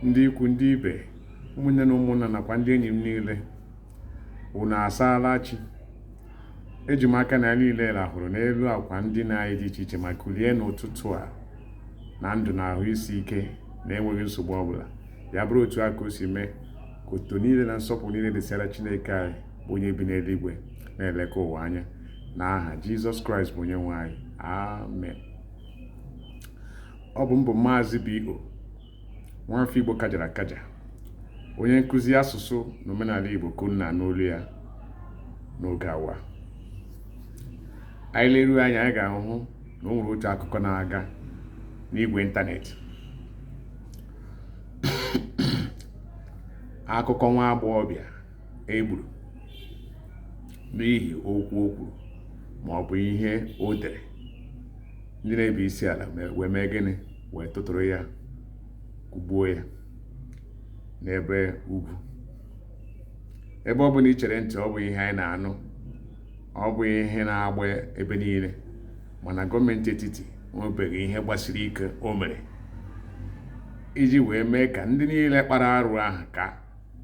ndị ikwu ndị ibe ụmụnne na ụmụnna nakwa ndị enyi m niile unu asaala chi eji m aka na anyị niile rahụrụ n'elu akwa ndina anyị dị iche iche ma kulie n'ụtụtụ a na ndụ na ahụ isi ike na enweghị nsogbu ọbụla ya bụrụ otu a ka o si mee ka otuto niile na nsọpụrụ niile dịsịara chineke anyị bụ onye bi n'eluigwe na-eleka ụwa anya n'aha jizọs kraịst bụ onye nwe anyị amen ọ bụ m bụ maazị B.O. nwafọ Igbo kajara akaja onye nkụzi asụsụ na omenala Igbo ka unu na-anụ olu ya n'oge awa anyị leruo anya anyị ga-ahụ na o nwere otu akụkọ na-aga n'igwe ịntanetị akụkọ nwa agbọghọbịa e gburu n'ihi okwu o kwuru ma ọ bụ ihe o dere ndị na-ebi isi ala wee mee gịnị wee tụtụrụ ya kụgbuo ya n'ebe ugwu ebe ọ bụla i chere ntị ọ bụ ihe anyị na-anụ ọ bụ ihe na-agba ebe niile mana gọọmenti etiti nwebeghị ihe gbasiri ike o mere iji wee mee ka ndị niile kpara arụ ahụ ka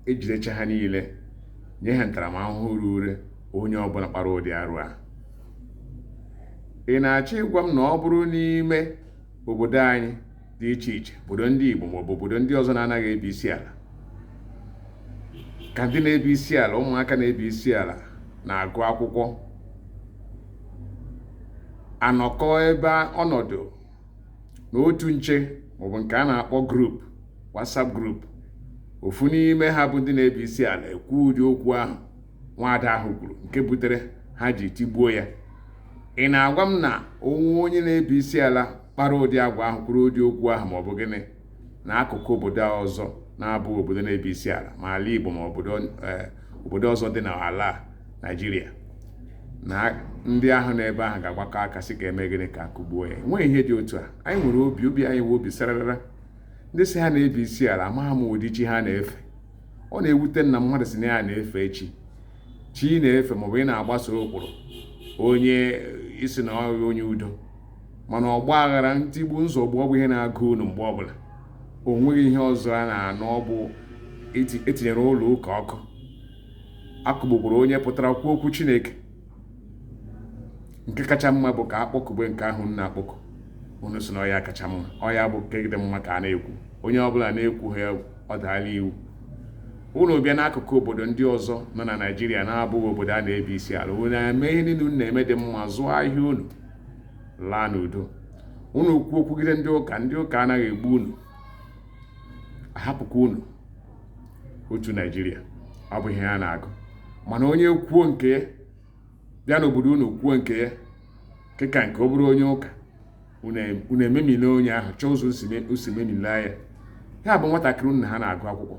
e jidecha ha niile nye ha ntaramahụhụ ruru onye ọbụla kpara ụdị arụ ahụ ị na-achọ ịgwa m na ọ bụrụ n'ime obodo anyị dị iche iche obodo ndị Igbo maọbụ obodo ndị ọzọ na-anaghị ebi isi ala ka ndị na-ebi isi ala ụmụaka na-ebi isi ala na-agụ akwụkwọ anọkọ ebe ọnọdụ na otu nche maọbụ nke a na-akpọ group WhatsApp group ofu n'ime ha bụ ndị na-ebi isi ala ekwu ụdị okwu ahụ nwaada ahụ kwuru nke butere ha ji tigbuo ya ị na-agwa m na o nwe onye na-ebi isi ala kpara ụdị agwa ahụ kwuru ụdị okwu ahụ maọbụ gịnị na akụkụ obodo ọzọ na-abụghị obodo na-ebi isi ala ma ala Igbo ma obodo eh, obodo ọzọ dị n'ala Naịjirịa na ndị ahụ n'ebe ahụ ga-agbakọ aka sị ka e mee gịnị ka a kụgbuo ya enweghị ihe dị otu a anyị nwere obi obi anyị nwe obi sararara ndị sị ha na-ebi isi ala amaghị m ụdị chi ha na-efe ọ na-ewute m na mmadụ sị na ya na-efe chi chi ị na-efe maọbụ ị na-agbaso ụkpụrụ onye ị sị na ọ bụ onye udo mana ọgba aghara ntigbu nzọgbu ọ bụ ihe na-agụ unu mgbe ọbụla o nweghị ihe ọzọ a na-anụ ọ bụ e tinyere ụlọ ụka ọkụ a kụgbukwuru onye pụtara kwuo okwu chineke nke kacha mma bụ ka a kpọkube nke ahụ unu na-akpọku unu sị na ọ ya kacha mma ọ ya bụ nke dị mma ka a na-ekwu onye ọbụla na-ekwu ha egbuo ọ daala iwu unu bịa n'akụkụ obodo ndị ọzọ nọ na naijiria na-abụghị obodo a na-ebi isi ala unu na-eme ihe niile unu na-eme dị mma zụọ ahịa unu laa n'udo unu kwuo okwugide ndị ụka ndị ụka anaghị egbu unu a hapụkwa unu otu naijiria ọ bụ ihe a na-agụ mana onye kwuo nke ya bịa n'obodo unu kwuo nke ya nke ka nke ọ bụrụ onye ụka unu ememile onye ahụ chọọ ụzọ o si memile ya ya bụ nwatakịrị unu na ha na-agụ akwụkwọ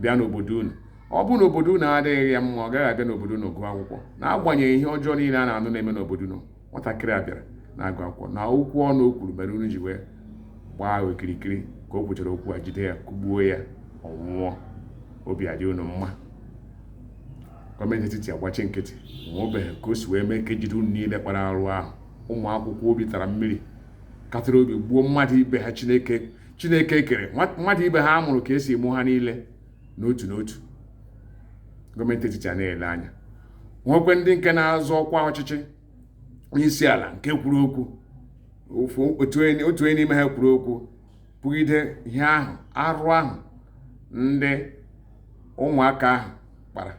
bịa n'obodo unu ọ bụ na obodo unu adịghị ya mma ọ gaghị abịa n'obodo unu gụọ akwụkwọ n'agbanyeghị ihe ọjọọ niile a na-anụ na-eme n'obodo unu nwatakịrị a bịara na-agụ akwụkwọ na okwu ọnụ o kwuru mere unu ji wee gbaa okirikiri ka o kwuchara okwu a jide ya kụgbuo ya ọ nwụọ obi adị unu mma gọọmenti etiti agbachi nkịtị o nwebeghị ka o si wee mee ka e jide unu niile kpara arụ ahụ ụmụ akwụkwọ obi tara mmiri katara obi gbuo mmadụ ibe ha chineke kere mmadụ ibe ha a mụrụ ka e si mụọ ha niile n'otu n'otu gọọmenti etiti a na-ele anya nwekwe ndị nke na-azọ ọkwa ọchịchị n'isi ala nke kwuru okwu otu onye n'ime ha kwuru okwu kwugide ihe ahụ arụ ahụ ndị ụmụaka ahụ kpara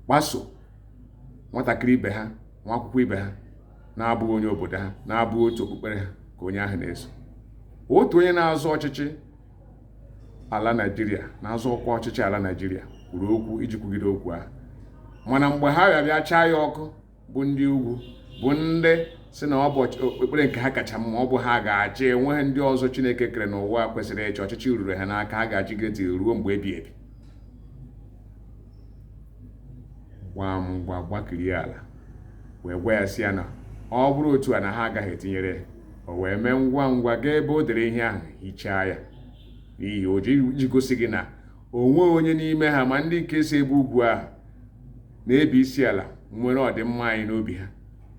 kpaso nwatakịrị ibe ha nwa akwụkwọ ibe ha na-abụghị onye obodo ha na-abụghị otu okpukpere ha ka onye ahụ na-eso otu onye na-azọ ọchịchị ala naijiria na-azọ ọkwa ọchịchị ala naijiria kwuru okwu iji kwugide okwu ahụ mana mgbe ha bịa bịa chaa ya ọkụ bụ ndị ugwu bụ ndị sị na ọ bụ okpukpere nke ha kacha mma ọ bụ ha ga-achị enweghị ndị ọzọ chineke kere n'ụwa kwesịrị ịchị ọchịchị ruru ha n'aka ha ga-achịgide ruo mgbe ebighị ebi gbaa mgba gbakirie ala wee gwa ya sị ya na ọ bụrụ otu a na ha agaghị etinyere ya o wee mee ngwa ngwa gaa ebe o dere ihe ahụ hichaa ya n'ihi o ji gosi gị na o nweghị onye n'ime ha ma ndị nke si ebe ugwu ahụ na-ebi isi ala nwere ọdịmma anyị n'obi ha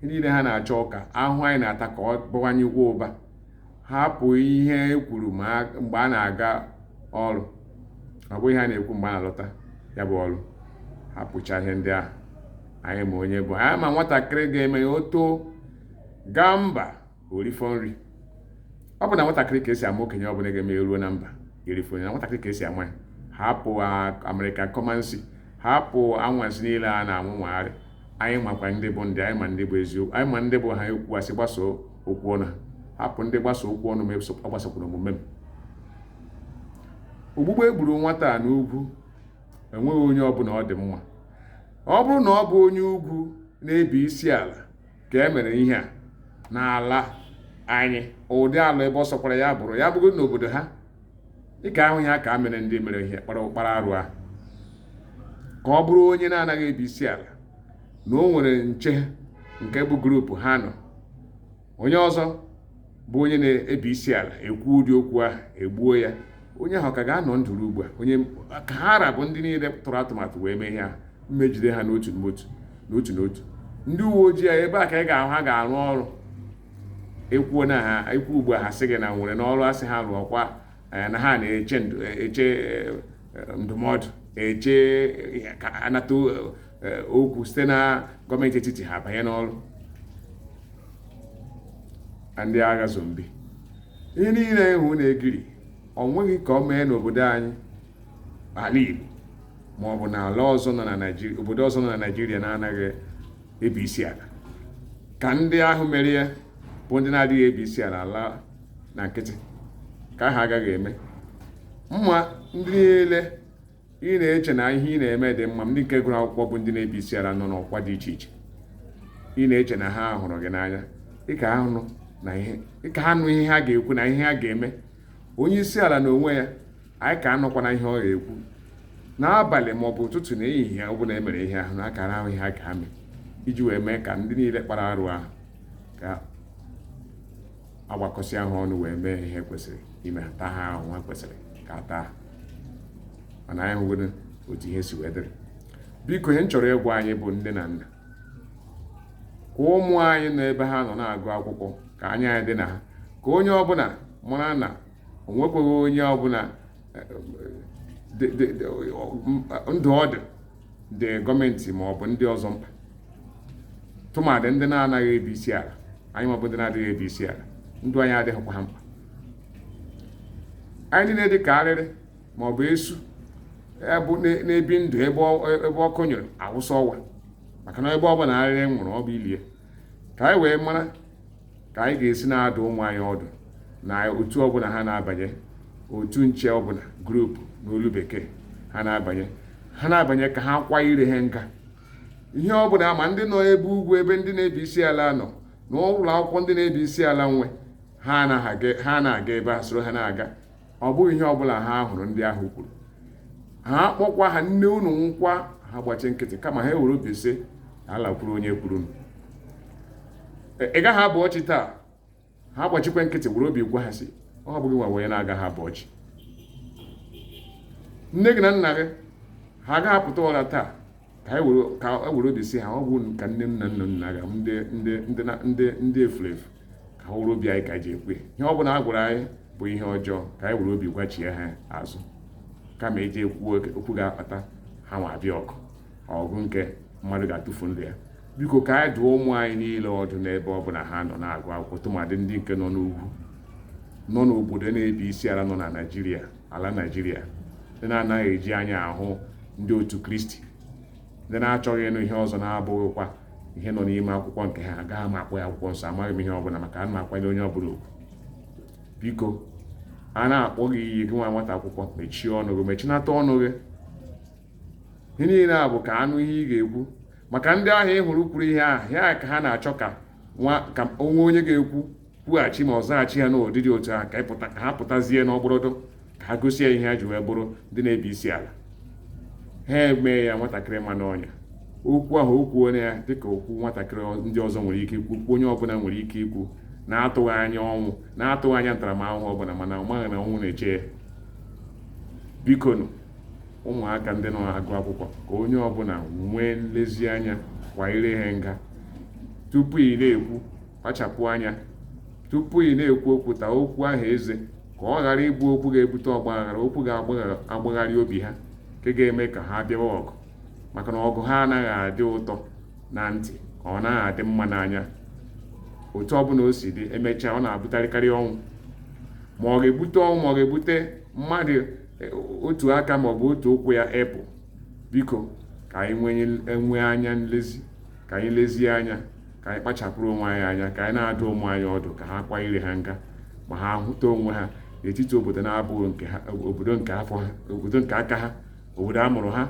ihe niile ha na-achọ bụ ka ahụhụ anyị na-ata ka ọ bawanyekwa ụba hapụ ihe e kwuru mgbe a na-aga ọrụ ọ bụghị ihe a na-ekwu mgbe a na-alọta ya bụ ọrụ hapụcha ihe ndị ahụ anyị ma onye bụ anyị ma nwatakịrị ga-eme ya o too gaa mba o rifọ nri ọ bụ na nwatakịrị ka e si ama okenye ọ bụla ga-eme e ruo na mba e rifọ na nwatakịrị ka e si ama ya hapụ amerịka kọmansi hapụ anwansi niile a na-anwụ nwagharị anyị makwa ndị bụ ndị anyị ma ndị bụ eziokwu anyị ma ndị bụ ha ekwu asị gbasoo okwu ọnụ ha hapụ ndị gbasoo okwu ọnụ m agbasokwala omume m ogbugbu e gburu nwata a n'ugwu enweghị onye ọbụla ọ dị mma ọ bụrụ na ọ bụ onye ugwu na-ebi isi ala ka e mere ihe a n'ala anyị ụdị ala ebe ọ sọkwara ya bụrụ ya bụgo n'obodo ha ị ka ahụ ihe a ka emere ndị mere ihe kpara kpara arụ ahụ ka ọ bụrụ onye na-anaghị ebi isi ala na o nwere nche nke bụ group ha nọ onye ọzọ bụ onye na-ebi isi ala ekwu ụdị okwu ahụ egbuo ya onye ahụ ka ga-anọ ndụ ruo ugbu a onye ka ha ra bụ ndị niile tụrụ atụmatụ wee mee ihe ahụ ma ejide ha n'otu n'otu ndị uwe ojii a ebe a ka ị ga-ahụ ha ga-arụ ọrụ ekwuo na ha ekwu ugbu a ha sị gị na nwere n'ọrụ asị ha rụọkwa eh, na ha na-eche eche ndụmọdụ eche ka anata okwu site na gọọmenti etiti ha banye n'ọrụ ndị agha zombi ihe niile ịhụ na-egiri ọ nweghị ka ọ mee n'obodo anyị ala Igbo ma ọ bụ n'ala ọzọ nọ na Naịjirịa obodo ọzọ nọ na Naịjirịa na-anaghị ebi isi ala ka ndị ahụ mere ya bụ ndị na-adịghị ebi isi ala ala na nkịtị ka ha agaghị eme ma ndị niile ị na-eche na ihe ị na-eme dị mma ndị nke gụrụ akwụkwọ bụ ndị na-ebi isi ala nọ n'ọkwa dị iche iche ị na-eche na ha hụrụ gị n'anya ị ka anụ ihe ha ga-ekwu na ihe ha ga-eme onye isi ala na onwe ya anyị ka anụkwana ihe ọ ga-ekwu n'abalị ma ọ bụ ụtụtụ na ehihie ọ bụla emere ihe ahụ na akara ahụ ihe a ka ga-eme iji wee mee ka ndị niile kpara arụ ahụ ka agbakọsịa ha ọnụ wee mee ihe kwesịrị ime taa ha ahụhụ kwesịrị ka a taa ha mana anyị hụgodo otu ihe si wee dịrị biko ihe m chọrọ ịgwa anyị bụ nne na nna ka ụmụ anyị nọ ebe ha nọ na-agụ akwụkwọ ka anya anyị dị na ha ka onye ọbụla mara na o nwekwaghị onye ọbụla eh, eh, ndụ ọ dị ndị gọọmenti ma ọ bụ ndị ọzọ mkpa tụmadị ndị na-anaghị ebi isi ala anyị ma ọ bụ ndị na-adịghị ebi isi ala ndụ anyị adịghịkwa ha mkpa anyị niile dị ka arịrị ma ọ bụ esu na-ebi ndụ ebe ọkụ nyụrụ awụsa ọwa maka na ebe ọ bụla arịrị nwụrụ ọ bụ ili ya ka anyị wee mara ka anyị ga-esi na-adụ ụmụ anyị ọdụ na otu ọbụla ha na-abanye otu nche ọbụla group n'olu bekee ha na-abanye ha na-abanye ka ha kwa ire ha nga ihe ọbụla ma ndị nọ ebe ugwu ebe ndị na-ebi isi ala nọ na ụlọ akwụkwọ ndị na-ebi isi ala nwe ha na-aga ebe a soro ha na-aga ọ bụghị ihe ọbụla ha hụrụ ndị ahụ kwuru ha kpọkwa ha nne unu nwụọkwa ha gbachi nkịtị kama ha ewere obi sị ala kwuru onye kwuru ị gaghị abọ chi taa ha gbachikwa nkịtị were obi gwa ha sị ọ bụ gị nwa onye na-agaghị abọ chi nne gị na nna gị ha agaghị apụta ụra taa ka e were ka e were obi sị ha ọ bụ ka nne m na nna nna ga ndị ndị ndị na- ndị ndị efuru efu ka ha were obi anyị ka ji ekwe ihe ọ bụla a gwara anyị bụ ihe ọjọọ ka anyị were obi gwachie ha azụ kama eji ekwu okwu ga-akpata ha nwa abịa ọgụ ọgụ nke mmadụ ga-atụfu ndụ ya biko ka anyị dụọ ụmụ anyị niile ọdụ n'ebe ọ bụla ha nọ na-agụ akwụkwọ tụmadị ndị nke nọ n'ugwu nọ n'obodo na-ebi isi ala nọ na naịjirịa ala naịjirịa ndị na-anaghị eji anya ahụ ndị otu kristi ndị na-achọghị ịnụ ihe ọzọ na-abụghịkwa ihe nọ n'ime akwụkwọ nke ha agaghị m akpọ ya akwụkwọ nsọ amaghị m ihe ọbụla maka a na-akwanye onye ọbụla ugwu biko a na-akpọ gị iyi gị nwa nwata akwụkwọ mechie ọnụ gị mechinata ọnụ gị ihe niile a bụ ka a nụ ihe ị ga-ekwu maka ndị ahụ ị hụrụ kwuru ihe ahụ ya ka ha na-achọ ka o nwee onye ga-ekwu kwughachi ma ọ zaghachi ha n'ụdị dị otu a ka ịpụta ka ha pụtazie n'ọgbọrọdụ ka ha gosi ya ihe ha ji wee bụrụ ndị na-ebi isi ala ha emee ya nwatakịrị ma n'ọnya okwu ahụ o kwuo ya dịka okwu nwatakịrị ndị ọzọ nwere ike ikwu okwu onye ọbụla nwere ike ikwu na-atụghị anya ọnwụ na-atụghị anya ntaramahụhụ ọbụla mana ọ maghị na ọnwụ na-eche ya bikonu ụmụaka ndị na-agụ akwụkwọ ka onye ọbụla nwee nlezianya kwa ire ha nga tupu ị na-ekwu kpachapụ anya tupu ị na-ekwu okwu taa okwu ahụ eze ka ọ ghara ịbụ okwu ga-ebute ọgbaghara okwu ga-agbagharị obi ha nke ga-eme ka ha bịawa ọgụ maka na ọgụ ha anaghị adị ụtọ na ntị ọ naghị adị mma n'anya otu ọbụla o si dị emechaa ọ na-abụtarịkarị ọnwụ ma ọ ga-ebute ọnwụ ma ọ ga-ebute mmadụ e, otu aka ma ọ bụ otu ụkwụ ya apụ biko ka anyị nwee anya nlezi ka anyị lezie anya ka anyị kpachapụrụ onwe anyị anya ka anyị na-adụ ụmụ anyị ọdụ ka ha kwa ire ha nga ma ha hụta onwe ha n'etiti obodo na-abụghị nke ha obodo nke afọ ha obodo nke aka ha obodo a mụrụ ha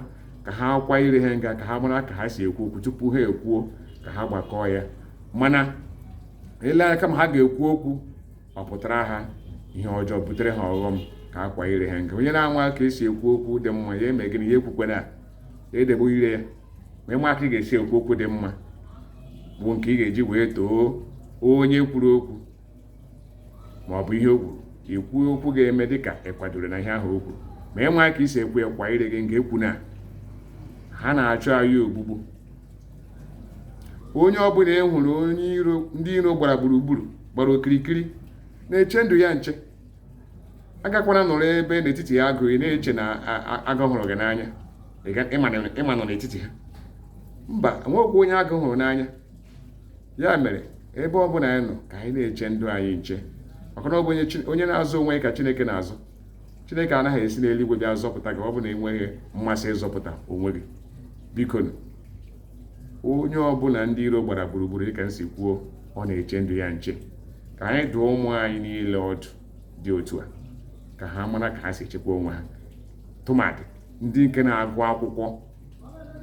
ka ha kwa ire ha nga ka ha mara ka ha si ekwu okwu tupu ha ekwuo ka ha gbakọọ ya ma na-ele anya kama ha ga-ekwu okwu ọ pụtara ha ihe ọjọọ butere ha ọghọm ka ha kwa ire ha nga onye na-amaghị ka e si ekwu okwu dị mma ya eme gịnị ya ekwukwena ya edebe ire ya ma ị maghị ka ị ga-esi ekwu okwu dị mma bụ nke ị ga-eji wee too onye kwuru okwu ma ọ bụ ihe o kwuru ikwu okwu ga-eme dịka ị kwadoro na ihe ahụ o kwuru ma ị maghị ka i si ekwu ya kwa ire gị nga ekwuna ha na-achọ anyị ogbugbu onye ọbụla e hụrụ onye iro ndị iro gbara gburugburu gbara okirikiri na-eche ndụ ya nche agakwana nọrọ ebe n'etiti ha agụ ị na-eche na agụ hụrụ gị n'anya ịma nọ n'etiti ha mba e nwekwa onye agụ hụrụ n'anya ya mere ebe ọ bụla anyị nọ ka anyị na-eche ndụ anyị nche maka na ọ bụ onye na-azọ onwe ya ka chineke na-azọ chineke anaghị esi n'eluigwe bịa zọpụta gị ọ bụ na i nweghị mmasị ịzọpụta onwe gị biko onye ọbụla ndị iro gbara gburugburu dịka m si kwuo ọ na-eche ndụ ya nche ka anyị dụọ ụmụ anyị niile ọdụ dị otu a ka ha mara ka ha si echekwa onwe ha tụmadị ndị nke na-agụ akwụkwọ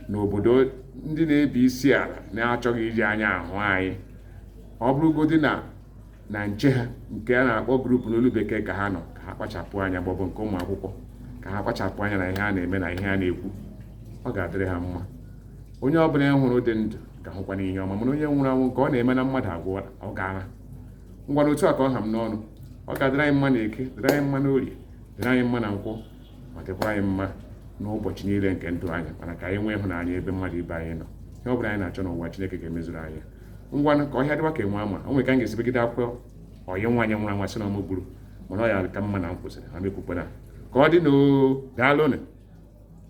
n'obodo ndị na-ebi isi ala na-achọghị iji anya ahụ anyị ọ bụrụgodị na na nche ha nke a na-akpọ group n'olu bekee ka ha nọ ka ha kpachapụ anya maọbụ nke ụmụ akwụkwọ ka ha kpachapụ anya na ihe a na-eme na ihe a na-ekwu ọ ga-adịrị ha mma onye ọ bụla hụrụ dị ndụ ga-ahụkwanụ ihe ọma mana onye nwụrụ anwụ nke ọ na-eme na mmadụ agwụ ọ gaara ngwanụ otu a ka ọ ha m n'ọnụ ọ ga-adịrị anyị mma na eke dịrị anyị mma n'orie dịrị anyị mma na nkwọ ma dịkwa anyị mma n'ụbọchị niile nke ndụ anyị mana ka anyị nwee ịhụnanya ebe mmadụ ibe anyị nọ ihe ọ bụla anyị na-achọ n'ụwa Chineke ga-emezuru anyị ngwanụ ka ọhịa dịwa ka enwe na-ama o nwere ka m ga-esi begide akwa ọyị nwaanyị nwụrụ anwụ a sị na ọ mụ gburu mana ọ ya ka mma na m kwụsịrị ha mekwukwana ka ọ dịnụ oo daalụnụ